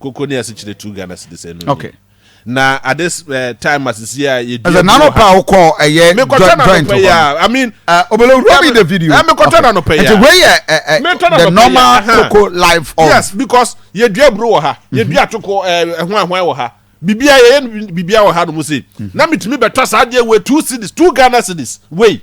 Koko ne asikyire two Ghana cedis ɛno okay. ni. Na at this uh, time asisi a yɛ dua. Ɛsɛ nanu pa awo kɔ ɛyɛ joint hɔ. I mean. Obolo wura mi the video. Ɛmi kɔtɔ nanu pɛ ya. Ɛti wei yɛ ɛ the normal koko life of. Yes because yɛ dua buru wɔ ha. Yɛ dua atoko ɛ ɛhun ahun wɔ ha. Bibia yɛ yɛ bibia wɔ ha no mu se. Na mi tumi bɛ tɔ saa adeɛ wei two cedis two Ghana cedis wei.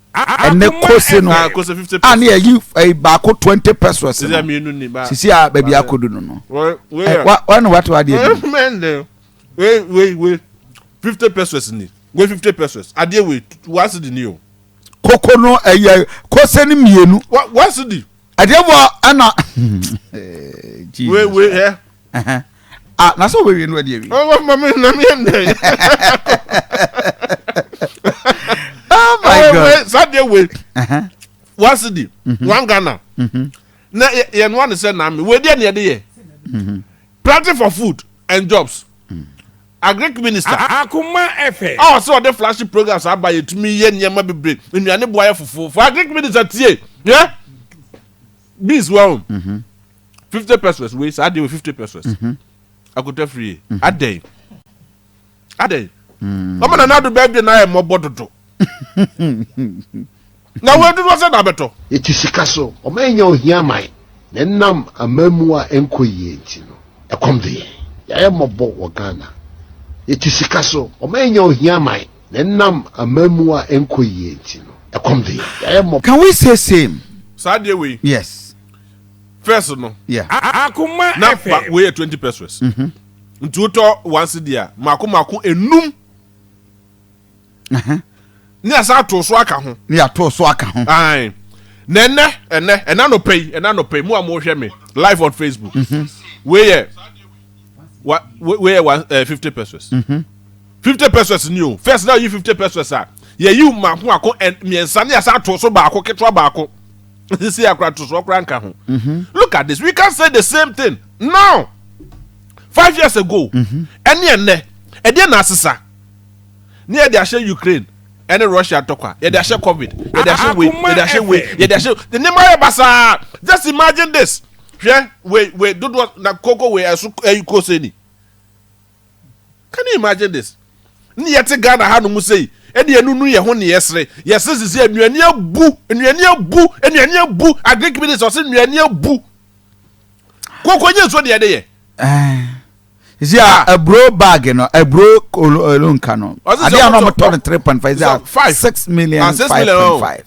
ɛnɛ kose no a ne yɛyi eh, baako twenty pesos no sisi a baabi akodu no no eh, wane wate wadeɛ bi fifty pesos ni wei fifty pesos adeɛ wei wase di ni o koko no ɛyɛ eh, kose no mmienu wase di ɛdeɛ bɔ ɛna wewe ɛ ah na sɛ wewe no ɛdeɛ wi ɔwɔ ma mi na mi ɛnɛ oh my god sadeɛ we wasi di wan ghana na yɛn wa ne sɛ na mi we deɛ ne yɛ de yɛ planting for food and jobs. Agric minister a akoma ɛfɛ. A ɔsɛ ɔde flashy programs aba yɛtumi yɛ nneɛma bebree nnuane boa yɛ fofofo agric minister tie yɛ beans wahu fifty pesos wei saa deɛ wɔ fifty pesos akota firie adɛn adɛn ɔmo na n'ado bɛɛ de n'ayɛ mmɔbɔ dodo. Na wei dodoɔ sɛ da bɛtɔ. Yɛte sika so, wɔannya ohia man. Na ɛnam amammuo a ɛnkɔ yie nti no, ɛkɔm de yɛn. Yɛayɛ mmɔbɔ wɔ Ghana. Yɛte sika so, wɔannya ohia man. Na ɛnam amammuo a ɛnkɔ yie nti no, ɛkɔm de yɛn. Yɛayɛ mmɔbɔ. Can we say same? Saa deɛ wei. Yes. First no. Yeah. Akoma FM. Na ba wei yɛ twenty pesos. Nti wotɔ one cedi a, mako mako enum. Ne yɛasan ato so aka ho. Ne yɛato so aka ho. Na ɛnɛ ɛnɛ ɛnɛ anɔpɛ yi ɛnɛ anɔpɛ yi mu a mo hwɛ me live on Facebook. Mhm. Wei yɛ wa wei yɛ one eh, fifty pesos. Mhm. Fifty pesos ni o first na yi fifty pesos a yɛ yi mako ako mmiɛnsa ne yɛasan ato so baako ketewa baako sisi akora to so akora nka ho. Mhm. Look at this we can say the same thing now five years ago ɛne ɛnɛ ɛdeɛ na asesa. Ne yɛde ahyɛ Ukraine ɛne Russia ntɔkwa, yɛde ahyɛ covid, yɛde ahyɛ wei, yɛde ahyɛ wei, yɛde ahyɛ ne nneɛma yɛ basaa. Just imagine this. Hwɛ wei wei dodoɔ na koko wei ɛso ɛyi kose ni. Can you imagine this? Ne yɛte Ghana ha no mu sei, ɛne yɛnunu yɛ ho ne yɛsere, yɛsere sisi nnuane abu, nnuane abu, nnuane abu, agric minister ɔse nnuane abu. Koko nye nsuo deɛ ɛde yɛ. Eh. Zi a aburo baagi no aburo kolo nka no adeɛ a na wɔn tɔ no three point five zi a six million ah, five point oh. five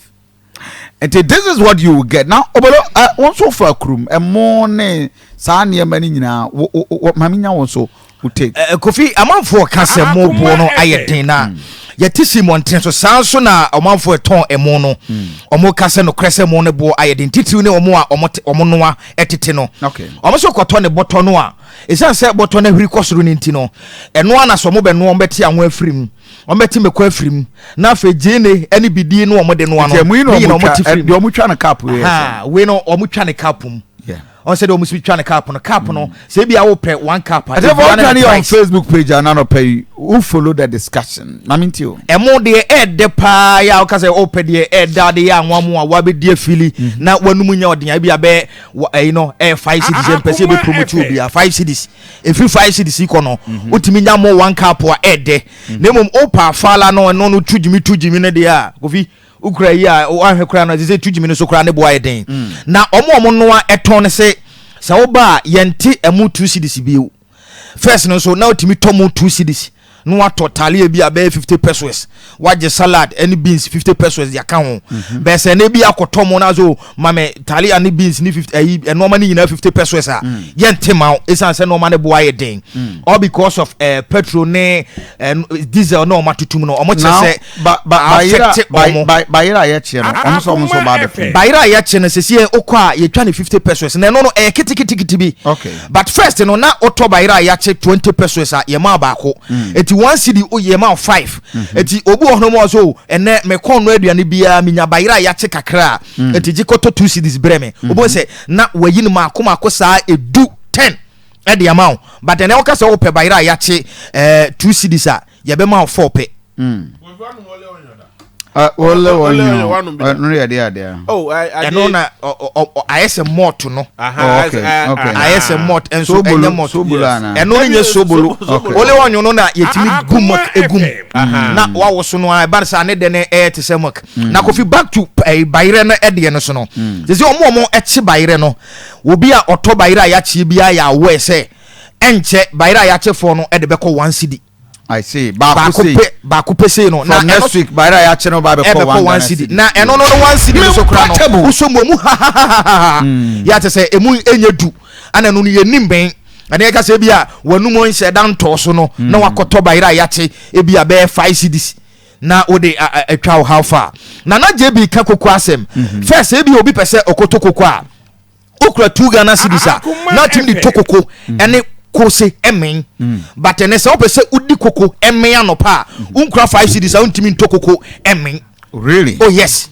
nti this is what you get na obolo ɛ eh, wɔn nso fa kurum ɛmo ne saa nneɛma no nyinaa wɔ wɔ maame nya wɔn so wɔ take. ɛ eh, eh, kofi amanfoɔ ka sɛ ah, mo boɔ no ayɛ den na. Mm yɛte si mmɔnten so saa nso na ɔmanfoɔ ɛtɔn ɛmo no hmm. ɔmo ka sɛ nokorɛ sɛ ɛmo no boɔ ayɛ den titiriw ne ɔmo a ɔmo noa ɛtete no ɔmo nso kɔtɔ ne bɔtɔ no a Esiane sɛ bɔtɔ no ahwiri kɔ soro no nti no, ɛno ara na sɛ wɔbɛnoa a, wɔbɛte anwo afiri mu, wɔbɛte mmako afiri mu, na afei gyeene ne bidie no a wɔde noa no, ne nyinaa wɔte firi mu. Wei no, wɔtwa ne kaapo mu. ɔn sɛ deɛ ɔmo si twa ne cup no cup no hmm. sɛ ebi awo pɛ one cup a. ɛsɛ fɔ ɔtwa ne yɛ on facebook page ananɔ pɛ yi who follow the discussion na mi n ti o. ɛmo deɛ ɛɛdɛ paa yɛ a ɔka sɛ ɔpɛ deɛ ɛɛda de yɛ anwa mu a wabɛdi afili na wanum nya ɔden a ebi abɛ wɔ ɛyi no ɛyɛ five ah, cities yɛn ah, mpɛ sɛ yɛbɛ promote obiara five cities efiri five cities yi kɔ no mhm. wotumi nya mo one cup a ɛɛdɛ mhm. na mmom opa afaala no ɛno no tu gyimi tu gyimi no deɛ a kofi okura yi a wahwɛ kura no ɛsɛ sɛ tu gyimi no so kura ne bo ayɛ den mm. na wɔn a wɔn noa ɛtɔn no sɛ sɛ woba a yɛn ti ɛmu two cities bio. First no nso na otumi tɔ mu two cedis na watɔ talia bi a bɛyɛ fifty pesos wagye salad ɛne beans fifty pesos de aka ho mhm. bɛyɛ sɛ ɛna bi akɔtɔ mu na so mame talia ne beans ne fifty ɛyi nneɛma ne nyinaa fifty pesos a mm. yɛn te ma o esan sɛ nneɛma ne bo ayɛ den mm. all because of ɛɛ eh, petrol ne ɛɛ eh, diesel na wɔn atutum no wɔn kyerɛ sɛ. bayera a yɛkyeɛ no ɔmo sɛ ɔmo nso ɔmo abɛpɛ bayera a yɛkye no sisi yɛ okɔ a yɛtwa ne fifty pesos na ɛno no ɛyɛ kitikitikiti bi but first no na wotɔ bayera a yɛakye twenty pesos a yɛma wo baako mm. eti one cd yɛma wo five mm-hmm. eti obi wɔ hɔnom ɔso oh, ɛnɛ mekɔn no aduane biara menya bayera a yɛakye kakra mm. eti gye kɔtɔ two cds brɛ me mm-hmm. obi sɛ na wayi no maako maako saa edu ten ɛde ama wo but ɛnɛ woka sɛ wopɛ bayera a yɛakye ɛɛ eh, two cds a yɛbɛma wo fɔ pɛ. Hmm. Ole wɔnyɔn ɛno yɛ de adeɛ. Oh, ɛno na ayɛ sɛ mɔɔto no. ayɛ sɛ mɔɔto ɛnso ɛnyɛ mɔɔto. ɛno ne nyɛ sobolo. Ole wɔnyɔn no na yɛtumi ah, gu mɔk egum na wawoso no a ɛba no sɛ ne dɛ no ɛyɛ te sɛ mɔk. Hmm. Na kofi back to eh, bayerɛ no ɛdeɛ no so no. Hmm. Sɛ sɛ wɔn a wɔn ɛkye bayerɛ no obi a ɔtɔ bayerɛ a yɛakye biara yɛ awɔ ɛsɛ. Ɛnkyɛ bayerɛ a yɛakyɛ fɔɔ no de bɛkɔ one cedi. I see. Baako sei. Baako pɛ sei no. From next week bayerɛ a yɛakyɛ no ba bɛkɔ one cedi. Na ɛno no no one cedi no so kora no. Mempa wosɔ mu emu hahahaha. Yɛ ate sɛ emu enye du. Ana no no yɛ nim bɛn. Ɛna yɛka sɛ ebi a wɔnum nhyɛ da ntɔɔ so no na wakɔtɔ bayerɛ a yɛakyɛ ebi a bɛyɛ five cedis na wode atwa wo how far. Nana JB ka koko asɛm. First ebi obi pɛ sɛ ɔkɔtɔ koko a. okura two ghana cities a na tumi de to koko mm. ɛne kose ɛmɛn mm. but ɛnɛ sɛ wopɛ sɛ wodi koko ɛmɛn anɔpa a mm. wonkura five cities a wontumi nto koko ɛmɛn really oh yes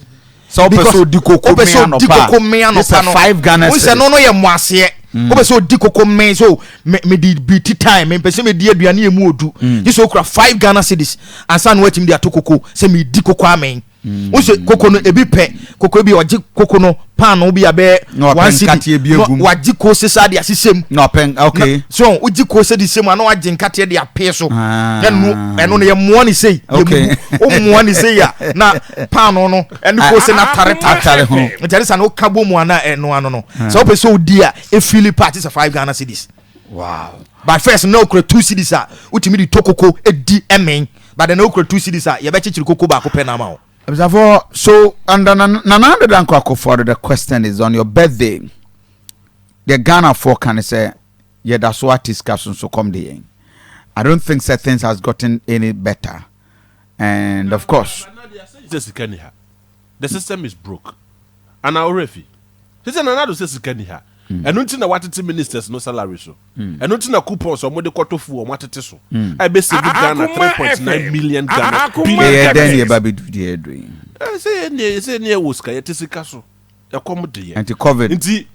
sɛ wopɛ sɛ odi koko mɛn anɔpa no five ghana cities wosɛ no no yɛ mmoaseɛ wopɛ sɛ odi koko mɛn so mede bi ti time mempɛ sɛ medi aduane ɛmu odu gye sɛ wokura five ghana cities ansa na woatumi de ato koko sɛ medi koko amɛn wosɛ koko no ebi pɛ koko ebi ɔgye koko no paano bi abɛɛ one city na wagye koose saa de asesɛ mu na ɔpɛn okay so wogye koose de sɛ mu ana wagye nkateɛ de apee so ah. na nu ɛno no yɛmmoa ne sei yɛmubu wommoa ne sei a na paano no ɛne ah, koose no ah, ataretare ho nkyɛne sa na woka bɔ mu ana ɛno ano no sɛ wopɛ sɛ wodi a ɛfili pa te sɛ five ghana cities Wow. By first na okura two cities a wotumi de tɔ koko di ɛmen. But na okura two cities a yɛbɛkyekyere koko baako pɛ na ama wo. Abusuafoɔ, so under Nana Addo Dankwa Akufo-Addo the question is on your birthday deɛ Ghanafoɔ ka ne sɛ yɛda so ate sika so nso kɔm de yɛn. I don't think sɛ things has gotten any better and of course. Sɛ sika ni ha. The system is broke. Ana ɔwerɛ fi? Sɛ sɛ Nana Addo sɛ sika ni ha. Mm. Ɛno nti na watete ministers no salary so. Mm. Ɛno nti na coupons a wɔde kɔtɔ fu wɔn atete so. Mm. A ɛbɛ save Ghana 3.9 million Ghana. Yɛyɛ dɛn na yɛba bɛdu deɛ ɛdo yi? Sɛ yɛ neɛ sɛ neɛ wɔ sika yɛte sika so. Ɛkɔm de yɛ. Nti COVID. Nti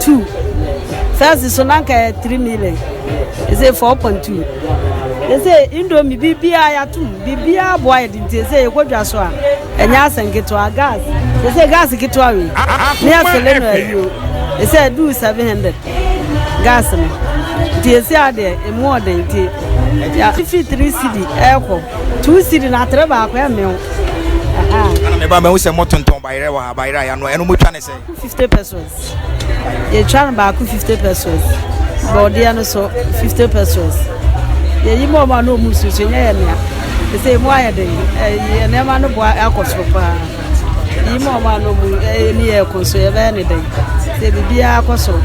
two sase so na nka three million ɛsɛ four point two ɛsɛ indomi biribiara yɛatom biribiara boa yɛde nti ɛsɛ yɛkɔdwa so a ɛnyɛ asɛ nketewa gas ɛsɛ gas ketewa wei ne yɛsele no ayio ɛsɛ duu seven hundred gas no nti ɛsɛ adeɛ ɛmu ɔden nti yɛfi three city ɛkɔ two city na atere baako ɛmew meba mahu sɛ motontɔn bayerɛ wɔ ha bayerɛ a yɛano ɛno motwa ne sɛ Baako fifty pesewas, yɛtwa no baako fifty pesewas, bɔɔdeɛ no so fifty pesewas. Yɛyi mu ɔmo a na ɔmo susu nyɛ yɛ nea. Ɛsɛ emu ayɛ den, ɛyɛ nneɛma no boa akɔ soro paa. Yi mu ɔmo a na ɔmo ɛyɛ ni yɛ kɔ so yɛbɛyɛ ne den. Sɛ biribiara akɔ soro.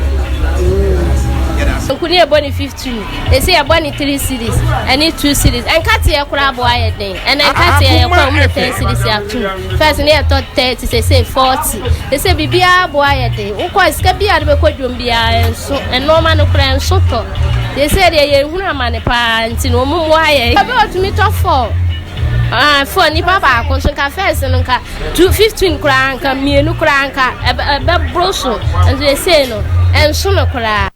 Okuni ɛbɔ ne fifty. two. Ese yɛbɔ ne three series ɛne two series. Nkateɛ koraa bɔ ayɛ den. Ɛna ah, nkateɛ ah, yɛkɔ mu ne ten series yɛ atum. First ne yɛtɔ thirty sese forty. Ese biribiara bɔ ayɛ den. Wokɔ sika bi a de bɛkɔ dwom biara nso ɛnoɔma no koraa nso tɔ. Ese deɛ yɛn hunu amane paa nti na wɔn mu ayɛ. Ɛbɛ otumi tɔ four. Ah, fo nipa baako nso nka fɛs no nka two fifteen koraa nka mmienu koraa nka ɛbɛ ɛbɛ boro so nso ese no ɛnso no koraa.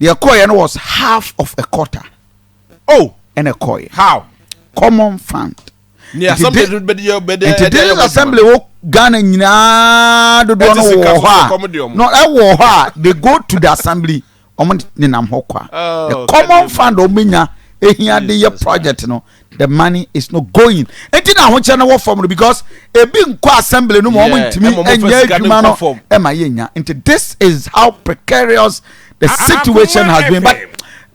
deɛ ɛkɔɔeɛ no was half of a quarter oh ɛna ɛkɔɔeɛ how common fund ne assembly de bɛ deɛ bɛ deɛ nti this assembly wɔ ghana nyinaa dodoɔ no wɔ hɔ a no ɛwɔ hɔ a they go to the assembly wɔn nenam hɔ kwa oh, the common fund wɔn bɛ nya ehia de yɛ project no the money is not going nti na ahokyerɛ no wɔ fam no because ebi nkɔ assembly no mu wɔn ntumi nyɛ adwuma no ɛma yɛ nya nti this is how precarious the situation has been but.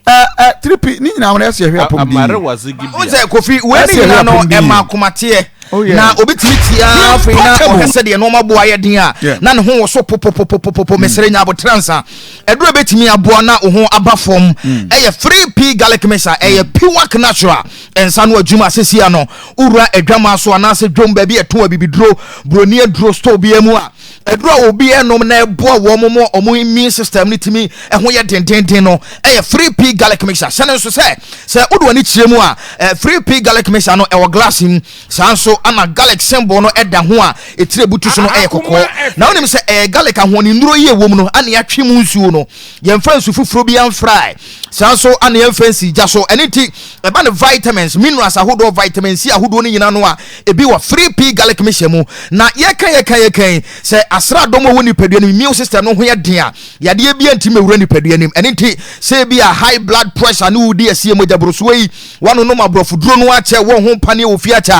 Uh, uh, tripi ne nyinaa wɔn ɛsɛ ɛhwɛ apɔm di o sɛ kofi wɔn ne nyinaa no ɛma akomateɛ oh, na obi tumi tia afei na ɔhɛ sɛ deɛ nneɛma bo ayɛ den a na ne ho wɔ so popopopopopo mesrɛ nya abotire nsa. Mm. aduro bɛtumi aboa na wo ho aba fam mm. ɛyɛ 3p garlic mix a ɛyɛ mm. piwak natural ɛnsa no adwuma asesia no wowura adwama so anaasɛ dwom baabi ɛto abibiduro buroni aduro store biara mu a aduro a obi ɛnom na ɛboa wɔn mo wɔn immune system no tumi ɛho yɛ dendenden no ɛyɛ 3p garlic mix a hyɛ no nso sɛ sɛ wode w'ani kyerɛ mu a 3p garlic mix no ɛwɔ glass mu Saa ara nso na garlic symbol no da ho a etire butu so no yɛ kɔkɔɔ. Na wonim sɛ ɛyɛ garlic ahoɔdennuro yi a ɛwom no na yɛatwe mu nsuo no. Yɛmfa nsu foforɔ bi amfrae. Saa ara nso na yɛmfa nsi gya so. Ɛno nti, ɛba ne vitamins, minerals ahodoɔ, vitamin C ahodoɔ no nyinaa no a ebi wɔ 3P garlic mehyɛ mu. Na yɛka yɛka yɛka yi, sɛ asraadɔm a ɛwɔ nipadua no mu, immune system no ho yɛ den a, yadeɛ biara ntumi mmɛwura nipadua no mu. Ɛno nti, sɛ ebi a high blood pressure ne wodi asie mogya borosoɔ yi, woanonom aborɔfoduro no akyɛ, wɔ ho paneɛ wɔ fie akyɛ a,